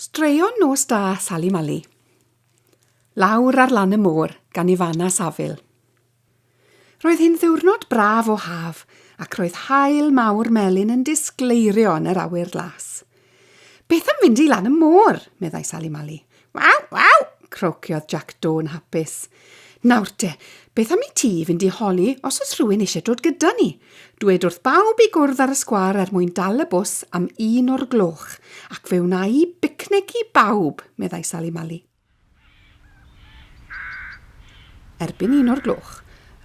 Straeon nos da, Sali Mali. Lawr ar lan y môr, gan Ifana Safil. Roedd hyn ddiwrnod braf o haf, ac roedd haul mawr melyn yn disgleirio yn yr awyr las. Beth am fynd i lan y môr? meddai Sali Mali. Waw, waw! crociodd Jac Do yn hapus. Nawr te, beth am i ti fynd i holi os oes rhywun eisiau dod gyda ni? Dwed wrth bawb i gwrdd ar y sgwâr er mwyn dal y bws am un o'r gloch, ac fe wna i bicnic i bawb, meddai Sali Mali. Erbyn un o'r gloch,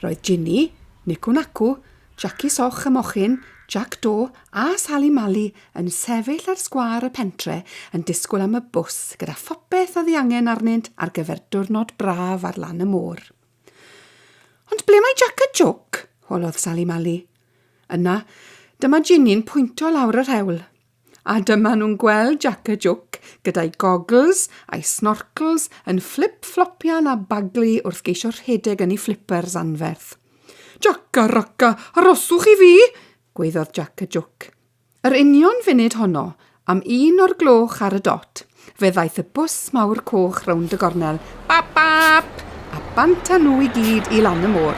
roedd Ginny, Nicu Nacu, Jackie Soch y Mochyn, Jac Do a Sali Mali yn sefyll ar sgwâr y pentre yn disgwyl am y bws gyda phopeth oedd ei angen arnynt ar gyfer diwrnod braf ar lan y môr. Ond ble mae Jac a Jôc? holodd Sali Mali. Yna, dyma Ginny'n pwyntio lawr yr hewl. A dyma nhw'n gweld Jac y Jwc gyda'i goggles a'i snorcls yn fflip-fflopian a baglu wrth geisio rhedeg yn ei flippers anferth. Jac a Raca, aroswch i fi! gweiddodd Jac y Jwc. Yr union funud honno, am un o'r gloch ar y dot, Fe ddaeth y bws mawr coch rownd y gornel, bap bap, a bant â nhw i gyd i lan y môr.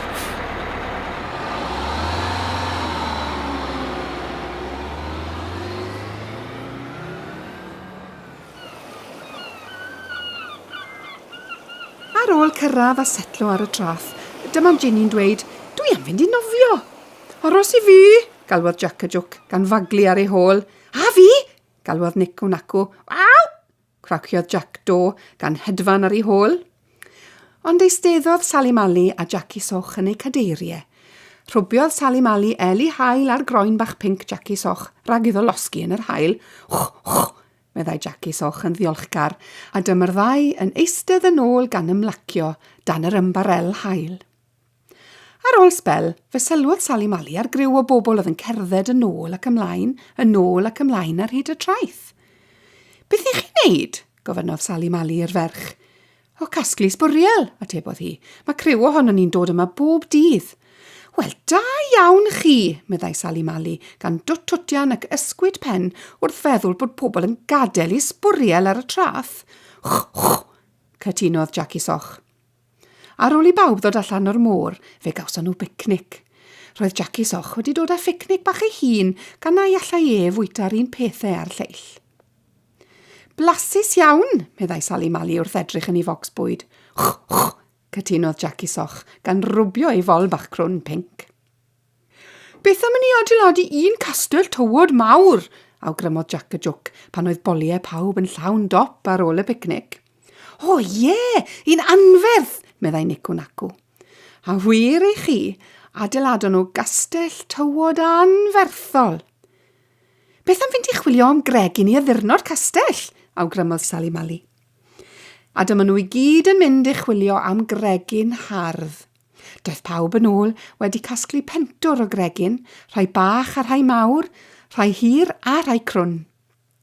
Ar ôl cyrraedd a setlo ar y traff, dyma Ginny'n dweud, dwi am fynd i nofio. Aros i fi, galwodd Jac y Jwc gan faglu ar ei hôl. A fi, Galwodd Nick o nacw. Waw! Craciodd Jack do gan hedfan ar ei hôl. Ond eisteddodd Sally Mali a Jackie Soch yn eu cadeiriau. Rhwbiodd Sally Mali Eli Hael ar groen bach pinc Jackie Soch rhag iddo losgi yn yr hael. Wch, wch, meddai Jackie Soch yn ddiolchgar, a dyma'r ddau yn eistedd yn ôl gan ymlacio dan yr ymbarel hael. Ar ôl sbel, fe sylwodd Sali Mali ar griw o bobl oedd yn cerdded yn ôl ac ymlaen, yn ôl ac ymlaen ar hyd y traeth. Beth i chi wneud? gofynnodd Sali Mali i'r ferch. O casglu sbwriel, atebodd hi. Mae criw ohono ni'n dod yma bob dydd. Wel, da iawn chi, meddai Sali Mali, gan dwt-twtian ac ysgwyd pen wrth feddwl bod pobl yn gadael i sbwriel ar y trath. Chwch, cytunodd Jackie Soch. Ar ôl i bawb ddod allan o'r môr, fe gawson nhw bicnic. Roedd Jackie Soch wedi dod â phicnic bach ei hun gan na i allai e fwyta'r un pethau a'r lleill. Blasus iawn, meddai Sali Mali wrth edrych yn ei focs bwyd. Ch, ch, cytunodd Jackie Soch, gan rwbio ei fol bach crwn pinc. Beth am i ni adeiladu un castell tywod mawr? awgrymodd Jac y Jwc pan oedd boliau pawb yn llawn dop ar ôl y picnic. O oh, ie, yeah, un anferth, meddai Nico Naco. A wir i chi, adeiladon nhw gastell tywod anferthol. Beth am fynd i chwilio am Greg i ni addurno'r castell? awgrymodd Sally Mali. A dyma nhw i gyd yn mynd i chwilio am Gregin hardd. Daeth pawb yn ôl wedi casglu pentwr o gregyn, rhai bach a rhai mawr, rhai hir a rhai crwn.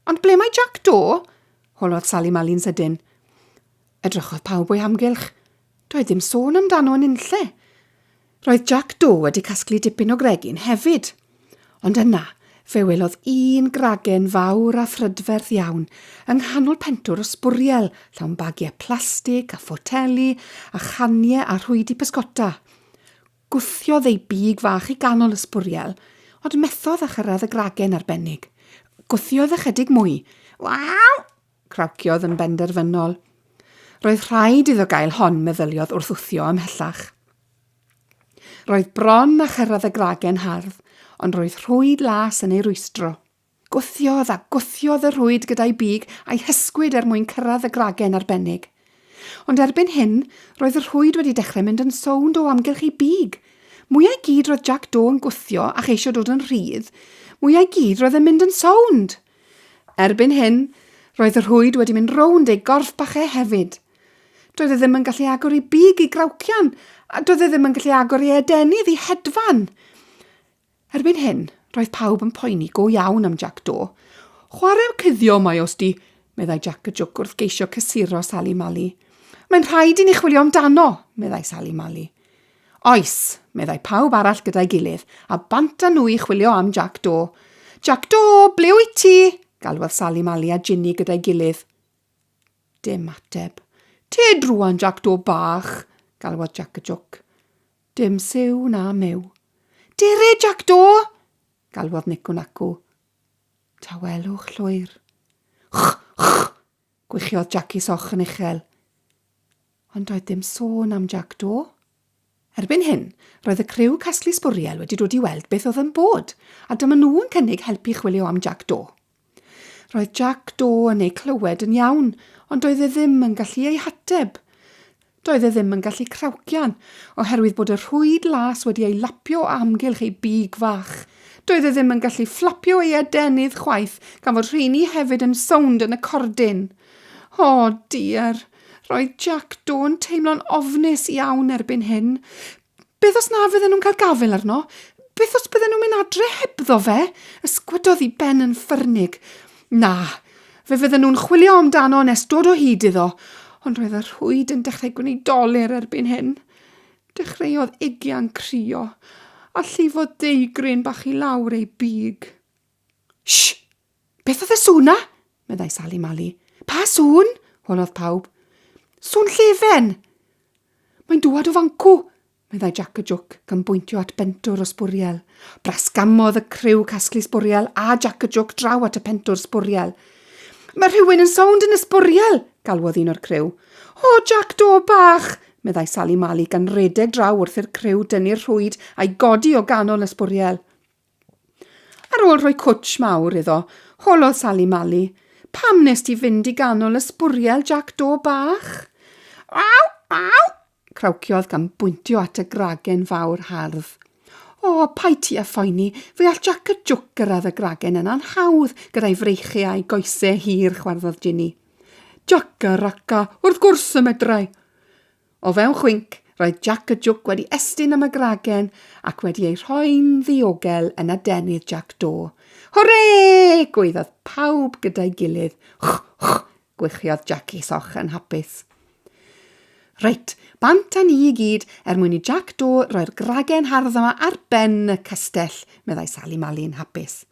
Ond ble mae Jack Do? holodd Sally Mali'n sydyn. Edrychodd pawb o'i amgylch. Doedd ddim sôn amdano yn unlle. Roedd Jack Do wedi casglu dipyn o gregyn hefyd. Ond yna, fe welodd un gragen fawr a phrydferth iawn yng nghanol pentwr o sbwriel llawn bagiau plastig a photeli a chaniau a rhwydi pysgota. Gwthiodd ei big fach i ganol y sbwriel, ond methodd â chyrraedd y gragen arbennig. Gwthiodd ychydig mwy. Waw! crawciodd yn benderfynol. Roedd rhaid iddo gael hon, meddyliodd wrth wthio ymhellach. Roedd bron a chyrraedd y gragen hardd, ond roedd rhwyd las yn ei rwystro. Gwthiodd a gwthiodd y rhwyd gyda'i big a'i hysgwyd er mwyn cyrraedd y gragen arbennig. Ond erbyn hyn, roedd y rhwyd wedi dechrau mynd yn sownd o amgylch ei big. Mwyau gyd roedd Jack Do yn gwthio a cheisio dod yn rhydd, mwyau gyd roedd yn mynd yn sownd! Erbyn hyn, roedd y rhwyd wedi mynd rownd ei gorff bach e hefyd. Doedd e ddim yn gallu agor ei big i grawcian, a doedd e ddim yn gallu agor ei adenydd i hedfan. Erbyn hyn, roedd pawb yn poeni go iawn am Jack Do. Chwarae'r cuddio mae os di, meddai Jack y Jwc wrth geisio cysuro Sally Mali. Mae'n rhaid i ni chwilio amdano, meddai Sally Mali. Oes, meddai pawb arall gyda'i gilydd, a bant â nhw i chwilio am Jack Do. Jack Do, ble wyt ti? galwodd Sally Mali a Ginny gyda'i gilydd. Dim ateb. Tyd rwan, Jac Do Bach! galwodd Jac y Jwc. Dim siw na myw. Dere, Jac Do! galwodd Nico Naco. Tawelwch llwyr. Ch, ch! gwichiodd Jac i soch yn uchel. Ond doedd dim sôn am Jac Do. Erbyn hyn, roedd y criw casglu sbwriel wedi dod i weld beth oedd yn bod, a dyma nhw yn cynnig helpu chwilio am Jac Do. Roedd Jac Do yn eu clywed yn iawn, ond doedd e ddim yn gallu eu hateb. Doedd e ddim yn gallu crawcian, oherwydd bod y rhwyd las wedi ei lapio o amgylch ei big fach. Doedd e ddim yn gallu fflapio ei adenydd chwaith, gan fod rheini hefyd yn sownd yn y cordyn. O, diar! Roedd Jac Do'n teimlo'n ofnus iawn erbyn hyn. Beth os na fydden nhw'n cael gafael arno? Beth os bydden nhw'n mynd adre hebddo fe? Ysgwydodd i Ben yn ffyrnig. Na, fe fydden nhw'n chwilio amdano nes dod o hyd iddo, ond roedd y rhwyd yn dechrau gwneud doler erbyn hyn. Dechreuodd Ugian crio, a llifo deugryn bach i lawr ei big. Sh! Beth oedd y sŵn na? meddai Sali Mali. Pa sŵn? holodd pawb. Sŵn llefen! Mae'n dŵad o fancw, meddai Jac y Jwc, gan bwyntio at bentwr o sbwriel. Brasgamodd y criw casglu sbwriel a Jac y Jwc draw at y pentwr sbwriel. Mae rhywun yn sownd yn y sbwriel, galwodd un o'r criw. O, Jac do bach, meddai Sali Mali gan redeg draw wrth i'r criw dynnu'r rhwyd a'i godi o ganol y sbwriel. Ar ôl rhoi cwtsh mawr iddo, holodd Sali Mali, Pam nes ti fynd i ganol y sbwriel, Jac Do bach? Aw! Aw! crawciodd gan bwyntio at y gragen fawr hardd. O, pai ti â phoeni, fe all Jac y Jwc gyrraedd y gragen yna'n hawdd gyda'i freichiau a'i goesau hir, chwarddodd Ginny. Jac a Raca, wrth gwrs y medrau! O fewn chwinc, roedd Jac y Jwc wedi estyn am y gragen ac wedi ei rhoi'n ddiogel yn adenydd Jac Do. Hwrê! gwaeddodd pawb gyda'i gilydd. Ch, ch, gwychiodd Jac i soch yn hapus. Reit, bant â ni i gyd er mwyn i Jac Do roi'r gragen hardd yma ar ben y castell, meddai Sali Mali'n hapus.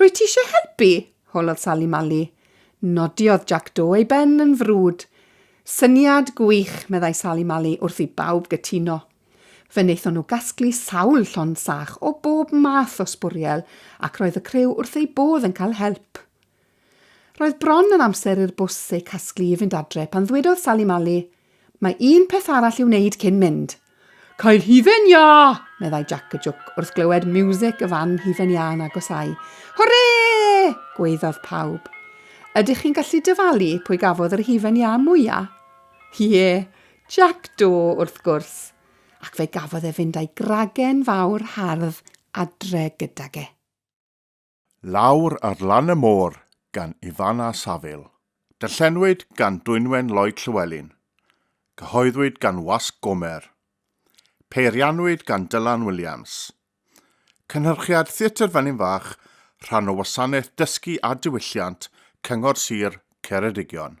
Rwyt ti eisiau helpu? holodd Sali Mali. Nodiodd Jack Do ei ben yn frwd. Syniad gwych, meddai Sali Mali wrth i bawb gytuno. Fe wnaethon nhw gasglu sawl llon sach o bob math o sbwriel ac roedd y criw wrth eu bodd yn cael help. Roedd bron yn amser i'r bws eu casglu i fynd adre pan ddwedodd Sali Mali, Mae un peth arall i'w wneud cyn mynd. Cael hufen iâ! meddai Jac y Jwc wrth glywed miwsig y fan hufen iâ yn agosau. Hwrê! gweiddodd pawb. Ydych chi'n gallu dyfalu pwy gafodd yr hufen iâ mwyaf? Ie, yeah, Jac do wrth gwrs. Ac fe gafodd e fynd a'i gragen fawr hardd adre gydag e. Lawr ar lan y môr gan Ifan a Safil. Darllenwyd gan Dwynwen Lloyd Llywelyn. Cyhoeddwyd gan Wasg Gomer. Peirianwyd gan Dylan Williams. Cynhyrchiad Theatr Felin Fach, rhan o Wasanaeth Dysgu a Diwylliant Cyngor Sir Ceredigion.